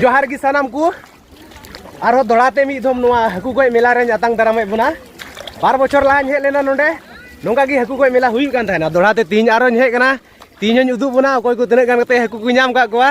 ᱡᱚᱦᱟᱨ ᱜᱮ ᱥᱟᱱᱟᱢ ᱠᱚ ᱟᱨᱦᱚᱸ ᱫᱚᱲᱟᱛᱮ ᱢᱤᱫ ᱫᱷᱚᱢ ᱱᱚᱣᱟ ᱦᱟᱹᱠᱩ ᱜᱚᱡ ᱢᱮᱞᱟ ᱨᱮᱧ ᱟᱛᱟᱝ ᱫᱟᱨᱟᱢᱮᱫ ᱵᱚᱱᱟ ᱵᱟᱨ ᱵᱚᱪᱷᱚᱨ ᱞᱟᱦᱟᱧ ᱦᱮᱡ ᱞᱮᱱᱟ ᱱᱚᱰᱮ ᱱᱚᱝᱠᱟ ᱜᱮ ᱦᱟᱹᱠᱩ ᱜᱚᱡ ᱢᱮᱞᱟ ᱦᱩᱭᱩᱜ ᱠᱟᱱ ᱛᱟᱦᱮᱱᱟ ᱫᱚᱲᱟᱛᱮ ᱛᱤᱦᱤᱧ ᱟᱨᱦᱚᱸᱧ ᱦᱮᱡ ᱠᱟᱱᱟ ᱛᱤᱦᱤᱧ ᱦᱚᱧ ᱩᱫᱩᱜ ᱵᱚᱱᱟ ᱚᱠᱚᱭ ᱠᱚ ᱛᱤᱱᱟᱹᱜ ᱜᱟᱱ ᱠᱟᱛᱮ ᱦᱟᱹᱠᱩ ᱠᱚ ᱧᱟᱢ ᱠᱟᱜ ᱠᱚᱣᱟ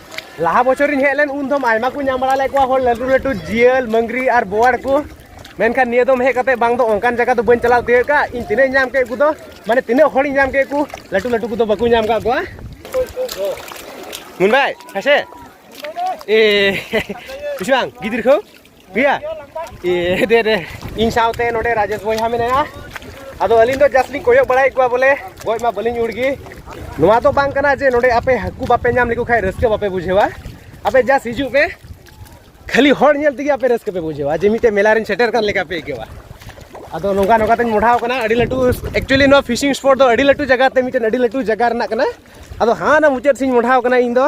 ᱞᱟᱦᱟ ᱵᱚᱪᱷᱚᱨᱤᱧ ᱦᱮᱡ ᱞᱮᱱ ᱩᱱ ᱫᱚᱢ ᱟᱭᱢᱟ ᱠᱚ ᱧᱟᱢ ᱵᱟᱲᱟ ᱞᱮᱫ ᱠᱚᱣᱟ ᱦᱚᱲ ᱞᱟᱹᱴᱩ ᱞᱟᱹᱴᱩ ᱡᱤᱭᱟᱹᱞ ᱢᱟᱹᱝᱜᱽᱨᱤ ᱟᱨ ᱵᱳᱣᱟᱲ ᱠᱚ ᱢᱮᱱᱠᱷᱟᱱ ᱱᱤᱭᱟᱹ ᱫᱚᱢ ᱦᱮᱡ ᱠᱟᱛᱮ ᱵᱟᱝ ᱫᱚ ᱚᱱᱠᱟᱱ ᱡᱟᱭᱜᱟ ᱫᱚ ᱵᱟᱹᱧ ᱪᱟᱞᱟᱣ ᱛᱤᱭᱳᱜ ᱠᱟᱜ ᱤᱧ ᱛᱤᱱᱟᱹᱜ ᱧᱟᱢ ᱠᱮᱫ ᱠᱚ ᱫᱚ ᱢᱟᱱᱮ ᱛᱤᱱᱟᱹᱜ ᱦᱚᱲᱤᱧ ᱧᱟᱢ ᱠᱮᱫ ᱠᱚ ᱞᱟᱹᱴᱩ ᱞᱟᱹᱴᱩ ᱠᱚᱫᱚ ᱵᱟᱠᱚ ᱧᱟᱢ ᱠᱟᱜ ᱠᱚᱣᱟ ᱢᱩᱱᱵᱟᱭ ᱦᱮᱸᱥᱮ ᱮ ᱵᱩᱡᱷᱟᱹᱣ ᱜᱤᱫᱽᱨᱟᱹ ᱠᱚ ᱯᱤᱭᱟ ᱮ ᱫᱮ ᱨᱮ ᱤᱧ ᱥᱟᱶᱛᱮ ᱱᱚᱰᱮ ᱨᱟᱡᱮᱥ ᱵᱚᱭᱦᱟ ᱢᱮᱱᱟᱭᱟ ᱟᱫᱚ ᱟᱹᱞᱤᱧ ᱫᱚ ᱡᱟᱥᱴ ᱞᱤᱧ ᱠᱚᱭᱚᱜ ᱵᱟᱲᱟᱭᱮᱫ ᱠᱚᱣᱟ ᱵᱚᱞᱮ ᱜᱚᱡ ᱢᱟ ᱵᱟᱹᱞᱤᱧ ᱩᱲᱜᱮ ᱱᱚᱣᱟ ᱫᱚ ᱵᱟᱝ ᱠᱟᱱᱟ ᱡᱮ ᱱᱚᱰᱮ ᱟᱯᱮ ᱦᱟᱹᱠᱩ ᱵᱟᱯᱮ ᱧᱟᱢ ᱞᱮᱠᱚ ᱠᱷᱟᱱ ᱨᱟᱹᱥᱠᱟᱹ ᱵᱟᱯᱮ ᱵᱩᱡᱷᱟᱹᱣᱟ ᱟᱯᱮ ᱡᱟᱥᱴ ᱦᱤᱡᱩᱜ ᱯᱮ ᱠᱷᱟᱹᱞᱤ ᱦᱚᱲ ᱧᱮᱞ ᱛᱮᱜᱮ ᱟᱯᱮ ᱨᱟᱹᱥᱠᱟᱹ ᱯᱮ ᱵᱩᱡᱷᱟᱹᱣᱟ ᱡᱮ ᱢᱤᱫᱴᱮᱱ ᱢᱮᱞᱟ ᱨᱮᱧ ᱥᱮᱴᱮᱨ ᱠᱟᱱ ᱞᱮᱠᱟ ᱯᱮ ᱟᱹᱭᱠᱟᱹᱣᱟ ᱟᱫᱚ ᱱᱚᱝᱠᱟ ᱱᱚᱝᱠᱟ ᱛᱮᱧ ᱢᱚᱰᱷᱟᱣ ᱠᱟᱱᱟ ᱟᱹᱰᱤ ᱞᱟᱹᱴᱩ ᱮᱠᱪᱩᱭᱮᱞᱤ ᱱᱚᱣᱟ ᱯᱷᱤᱥᱤᱝ ᱥᱯᱚᱴ ᱫᱚ ᱟᱹᱰᱤ ᱞᱟᱹᱴᱩ ᱡᱟᱭᱜᱟ ᱛᱮ ᱢᱤᱫᱴᱮᱱ ᱟᱹᱰᱤ ᱞᱟᱹᱴᱩ ᱡᱟᱭᱜᱟ ᱨᱮᱱᱟᱜ ᱠᱟᱱᱟ ᱟᱫᱚ ᱦᱟᱱᱟ ᱢᱩᱪᱟᱹᱫ ᱥᱮᱧ ᱢᱚᱰᱷᱟᱣ ᱠᱟᱱᱟ ᱤᱧ ᱫᱚ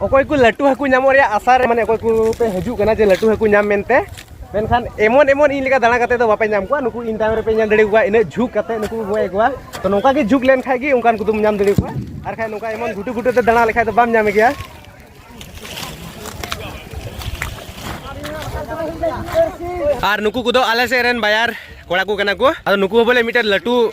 ᱚᱠᱚᱭ ᱠᱚ ᱞᱟᱹᱴᱩ ᱦᱟᱹᱠᱩ ᱧᱟᱢᱚᱜ ᱨᱮᱭᱟᱜ ᱟᱥᱟ ᱨᱮ ᱢᱟᱱᱮ ᱚᱠᱚᱭ ᱠᱚ ᱯᱮ ᱦᱤᱡᱩᱜ ᱠᱟᱱᱟ ᱡᱮ ᱞᱟᱹᱴᱩ ᱦᱟᱹᱠᱩ ᱧᱟᱢ ᱢᱮᱱᱛᱮ ᱢᱮᱱᱠᱷᱟᱱ ᱮᱢᱚᱱ ᱮᱢᱚᱱ ᱤᱧ ᱞᱮᱠᱟ ᱫᱟᱬᱟ ᱠᱟᱛᱮ ᱫᱚ ᱵᱟᱯᱮ ᱧᱟᱢ ᱠᱚᱣᱟ ᱱᱩᱠᱩ ᱤᱧ ᱛᱟᱭᱚᱢ ᱨᱮᱯᱮ ᱧᱮᱞ ᱫᱟᱲᱮ ᱠᱚᱣᱟ ᱤᱱᱟᱹᱜ ᱡᱷᱩᱠ ᱠᱟᱛᱮ ᱱᱩᱠᱩ ᱠᱚ ᱜᱚᱡ ᱠᱚᱣᱟ ᱛᱚ ᱱᱚᱝᱠᱟ ᱜᱮ ᱡᱷᱩᱠ ᱞᱮᱱ ᱠᱷᱟᱡ ᱜᱮ ᱚᱱᱠᱟᱱ ᱠᱚᱫᱚᱢ ᱧᱟᱢ ᱫᱟᱲᱮ ᱠᱚᱣᱟ ᱟᱨ ᱠᱷᱟᱡ ᱱᱚᱝᱠᱟ ᱮᱢᱚᱱ ᱜᱷᱩᱴᱩ ᱜᱷᱩᱴᱩ ᱛᱮ ᱫᱟᱬᱟ ᱞᱮᱠᱷᱟᱡ ᱫᱚ ᱵᱟᱢ ᱧᱟᱢᱮ ᱜᱮᱭᱟ ᱟᱨ ᱱᱩᱠᱩ ᱠᱚᱫᱚ ᱟᱞᱮ ᱥᱮᱫ ᱨᱮᱱ ᱵᱟᱭᱟᱨ ᱠᱚᱲᱟ ᱠᱚ ᱠᱟᱱᱟ ᱠᱚ ᱟᱫᱚ ᱱᱩᱠᱩ ᱦᱚᱸ ᱵᱚᱞᱮ ᱢᱤᱫᱴᱮᱱ ᱞᱟᱹᱴᱩ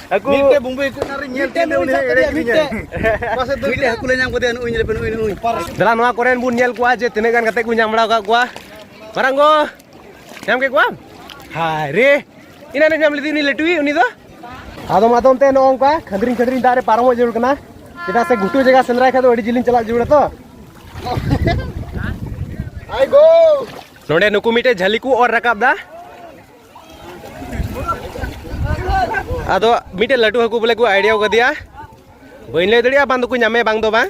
ᱦᱟᱹᱠᱩ ᱢᱤᱫᱴᱮᱡ ᱵᱩᱢᱵᱩ ᱦᱟᱹᱠᱩ ᱨᱮ ᱧᱮᱞ ᱛᱮ ᱩᱱᱤ ᱮᱲᱮ ᱠᱤᱫᱤᱧᱟᱭ ᱯᱟᱥᱮ ᱫᱚ ᱢᱤᱫᱴᱮᱡ ᱦᱟᱹᱠᱩ ᱞᱮ ᱧᱟᱢ ᱠᱮᱫᱮᱭᱟ ᱱᱩᱭ ᱞᱮᱯᱮ ᱱᱩᱭ ᱱᱩᱭ ᱫᱟᱞᱟ ᱱᱚᱣᱟ ᱠᱚᱨᱮᱱ ᱵᱚᱱ ᱧᱮᱞ ᱠᱚᱣᱟ ᱡᱮ ᱛᱤᱱᱟᱹᱜ ᱜᱟᱱ ᱠᱟᱛᱮ ᱠᱚ ᱧᱟᱢ ᱵᱟᱲᱟ ᱟᱠᱟᱫ ᱠᱚᱣᱟ ᱢᱟᱨᱟᱝ ᱜᱚ ᱧᱟᱢ ᱠᱮᱫ ᱠᱚᱣᱟᱢ ᱦᱟᱭ ᱨᱮ ᱤᱱᱟᱹ ᱧᱟᱢ ᱞᱮᱫᱮ ᱩᱱᱤ ᱞᱟᱹᱴᱩᱭᱤᱡ ᱩᱱᱤ ᱫᱚ ᱟᱫᱚᱢ ᱟᱫᱚᱢ ᱛᱮ ᱱᱚᱜᱼᱚ ᱱᱚᱝᱠᱟ ᱠᱷᱟᱹᱫᱽᱨᱤᱧ ᱠᱷᱟᱹᱫᱽᱨᱤᱧ ᱫᱟᱜ ᱨᱮ ᱯᱟᱨᱚᱢᱚᱜ ᱡᱟᱹᱨᱩᱲ ᱠᱟᱱᱟ ᱪᱮᱫᱟᱜ ᱥᱮ ᱜᱷᱩᱴᱩ ᱡᱟᱭᱜᱟ ᱥᱮᱸᱫᱽᱨᱟᱭ ᱠᱷᱟᱡ ᱫᱚ ᱟᱹᱰᱤ ᱡᱤᱞᱤᱧ ᱪᱟᱞᱟᱜ ᱡᱟᱹᱨᱩᱲᱟ ᱛᱚ ᱟᱭ ᱜᱳ ᱱᱚᱰᱮ ᱱᱩᱠᱩ ᱢᱤᱫᱴᱮᱡ ᱡᱷᱟᱹᱞᱤ ᱠᱚ ᱚᱨ ᱨᱟᱠᱟᱵ ᱫᱟ ᱟᱫᱚ ᱢᱤᱫᱴᱮᱱ ᱞᱟᱹᱴᱩ ᱦᱟᱹᱠᱩ ᱵᱚᱞᱮ ᱠᱚ ᱟᱭᱰᱤᱭᱟ ᱠᱟᱫᱮᱭᱟ ᱵᱟᱹᱧ ᱞᱟᱹᱭ ᱫᱟᱲᱮᱭᱟᱜᱼᱟ ᱵᱟᱝ ᱫᱚᱠᱚ ᱧᱟᱢᱮ ᱵᱟᱝ ᱫᱚ ᱵᱟᱝ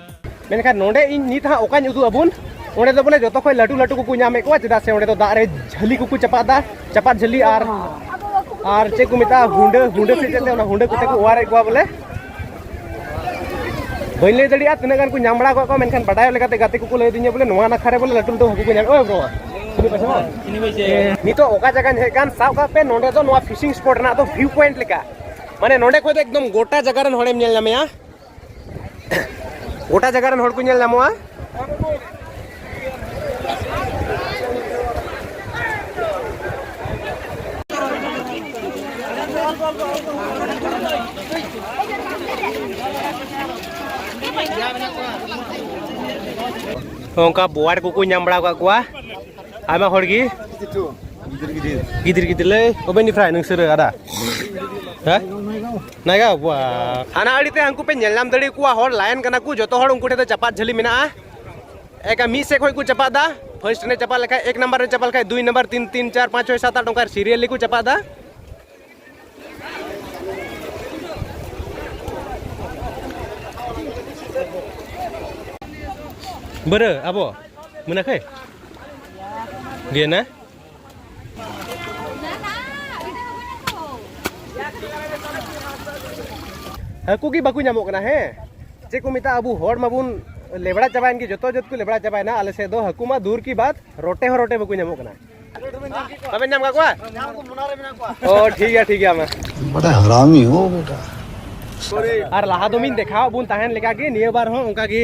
ᱢᱮᱱᱠᱷᱟᱱ ᱱᱚᱰᱮ ᱤᱧ ᱱᱤᱛ ᱦᱟᱸᱜ ᱚᱠᱟᱧ ᱩᱫᱩᱜ ᱟᱵᱚᱱ ᱚᱸᱰᱮ ᱫᱚ ᱵᱚᱞᱮ ᱡᱚᱛᱚ ᱠᱷᱚᱱ ᱞᱟᱹᱴᱩ ᱞᱟᱹᱴᱩ ᱠᱚᱠᱚ ᱧᱟᱢᱮᱫ ᱠᱚᱣᱟ ᱪᱮᱫᱟᱜ ᱥᱮ ᱚᱸᱰᱮ ᱫᱚ ᱫᱟᱜ ᱨᱮ ᱡᱷᱟᱹᱞᱤ ᱠᱚᱠᱚ ᱪᱟᱯᱟᱫᱟ ᱪᱟᱯᱟᱫ ᱡᱷᱟᱹᱞᱤ ᱟᱨ ᱟᱨ ᱪᱮᱫ ᱠᱚ ᱢᱮᱛᱟᱜᱼᱟ ᱦᱩᱸᱰᱟᱹ ᱦᱩᱸᱰᱟᱹ ᱥᱮ ᱪᱮᱫ ᱚᱱᱟ ᱦᱩᱸᱰᱟᱹ ᱠᱚᱛᱮ ᱠᱚ ᱚᱣᱟᱨᱮᱫ ᱠᱚᱣᱟ ᱵᱚᱞᱮ ᱵᱟᱹᱧ ᱞᱟᱹᱭ ᱫᱟᱲᱮᱭᱟᱜᱼᱟ ᱛᱤᱱᱟᱹᱜ ᱜᱟᱱ ᱠᱚ ᱧᱟᱢ ᱵᱟᱲᱟ ᱠᱟᱜ ᱠᱚᱣᱟ ᱢᱮᱱᱠᱷᱟᱱ ᱵᱟᱰᱟᱭᱚᱜ ᱞᱮᱠᱟᱛᱮ ᱜᱟᱛᱮ ᱠᱚᱠᱚ ᱞᱟᱹᱭ ᱫᱤᱧᱟ ᱵᱚᱞᱮ ᱱᱚᱣᱟ ᱱᱟᱠᱷᱟ ᱨᱮ ᱵᱚᱞᱮ ᱞᱟᱹᱴᱩ ᱞᱟᱹᱴᱩ ᱦᱟᱹᱠᱩ ᱠᱚ ᱧᱟᱢ ᱳᱭ ᱵᱨᱚ ᱱᱤᱛᱚᱜ ᱚᱠᱟ ᱡᱟᱭᱜᱟᱧ ᱦᱮᱡ ᱠᱟᱱ ᱥᱟᱵ ᱠᱟᱜ ᱯᱮ ᱱᱚᱰᱮ ᱫᱚ ᱱᱚᱣᱟ ᱯᱷᱤᱥᱤᱝ ᱥᱯᱚᱴ ᱨᱮᱱᱟᱜ ᱫᱚ ᱵᱷᱤᱭᱩ ᱯᱚᱭᱮᱱᱴ ᱞᱮᱠᱟ ᱢᱟᱱᱮ ᱱᱚᱰᱮ ᱠᱷᱚᱱ ᱫᱚ ᱮᱠᱫᱚᱢ ᱜᱚᱴᱟ ᱡᱟᱭᱜᱟ ᱨᱮᱱ ᱦᱚᱲᱮᱢ ᱧᱮᱞ ᱧᱟᱢᱮᱭᱟ ᱜᱚᱴᱟ ᱡᱟᱭᱜᱟ ᱨᱮᱱ ᱦᱚᱲ ᱠᱚ ᱧᱮᱞ ᱧᱟᱢᱚᱜᱼᱟ ᱚᱱᱠᱟ ᱵᱚᱣᱟᱨ ᱠᱚᱠᱚ ᱧᱟᱢ ᱵᱟᱲᱟ ᱟᱠᱟᱫ ᱠᱚᱣᱟ ᱟᱭᱢᱟ ᱦᱚᱲ ᱜᱮ ᱜᱤᱫᱤᱨ ᱜᱤᱫᱤᱨ ᱞᱟᱹᱭ ᱚᱵᱮᱱ ᱯᱷᱨᱟᱭ ᱱᱚᱝᱥᱮᱨ ᱟᱫᱟ ᱦᱮᱸ ᱱᱟᱜᱟ ᱵᱟ ᱦᱟᱱᱟ ᱟᱹᱲᱤ ᱛᱮ ᱦᱟᱹᱱᱠᱩ ᱯᱮ ᱧᱮᱞ ᱧᱟᱢ ᱫᱟᱲᱮ ᱠᱚᱣᱟ ᱦᱚᱲ ᱞᱟᱭᱮᱱ ᱠᱟᱱᱟ ᱠᱚ ᱡᱚᱛᱚ ᱦᱚᱲ ᱩᱱᱠᱩ ᱴᱷᱮᱱ ᱫᱚ ᱪᱟᱯᱟᱫ ᱡᱷᱟᱹᱞᱤ ᱢᱮᱱᱟᱜᱼᱟ ᱮᱠᱟ ᱢᱤᱫ ᱥᱮᱫ ᱠᱷᱚᱱ ᱠᱚ ᱪᱟᱯᱟᱫ ᱫᱟ ᱯᱷᱟᱨᱥᱴ ᱨᱮ ᱪᱟᱯᱟᱫ ᱞᱮᱠᱷᱟᱡ ᱮᱠ ᱱᱟᱢᱵᱟᱨ ᱨᱮ ᱪᱟᱯᱟᱫ ᱞᱮᱠᱷᱟᱡ ᱫᱩᱭ ᱱᱟᱢᱵᱟᱨ ᱛᱤᱱ ᱛᱤᱱ ᱪᱟᱨ ᱯᱟᱸᱪ ᱪᱷᱚᱭ ᱥᱟᱛ ᱟᱴ ᱚᱱᱠᱟ ᱥᱤᱨᱤᱭᱟᱞᱤ ᱠᱚ ᱪᱟᱯᱟᱫ ᱫᱟ ᱵᱟᱹᱨᱟᱹ ᱟᱵᱚ ᱢᱮᱱᱟᱠᱷᱟᱹᱭ ᱜᱮᱱᱟ ᱦᱟᱹᱠᱩ ᱜᱮ ᱵᱟᱠᱚ ᱧᱟᱢᱚᱜ ᱠᱟᱱᱟ ᱦᱮᱸ ᱪᱮᱫ ᱠᱚ ᱢᱮᱛᱟᱜᱼᱟ ᱟᱵᱚ ᱦᱚᱲ ᱢᱟᱵᱚᱱ ᱞᱮᱵᱲᱟ ᱪᱟᱵᱟᱭᱮᱱ ᱜᱮ ᱡᱚᱛᱚ ᱡᱚᱛ ᱠᱚ ᱞᱮᱵᱲᱟ ᱪᱟᱵᱟᱭᱮᱱᱟ ᱟᱞᱮ ᱥᱮᱫ ᱫᱚ ᱦᱟᱹᱠᱩ ᱢᱟ ᱫᱩᱨ ᱠᱤ ᱵᱟᱫ ᱨᱚᱴᱮ ᱦᱚᱸ ᱨᱚᱴᱮ ᱵᱟᱠᱚ ᱧᱟᱢᱚᱜ ᱠᱟᱱᱟ ᱵᱟᱵᱮᱱ ᱧᱟᱢ ᱠᱟᱜ ᱠᱚᱣᱟ ᱚ ᱴᱷᱤᱠ ᱜᱮᱭᱟ ᱴᱷᱤᱠ ᱜᱮᱭᱟ ᱢᱟ ᱵᱟᱰᱟ ᱦᱟᱨᱟᱢᱤ ᱦᱚ ᱵᱮᱴᱟ ᱟᱨ ᱞᱟᱦᱟ ᱫᱚ ᱢᱤᱧ ᱫᱮᱠᱷᱟᱣ ᱵᱚᱱ ᱛᱟᱦᱮᱱ ᱞᱮᱠᱟ ᱜᱮ ᱱᱤᱭᱟᱹ ᱵᱟᱨ ᱦᱚᱸ ᱚᱱᱠᱟ ᱜᱮ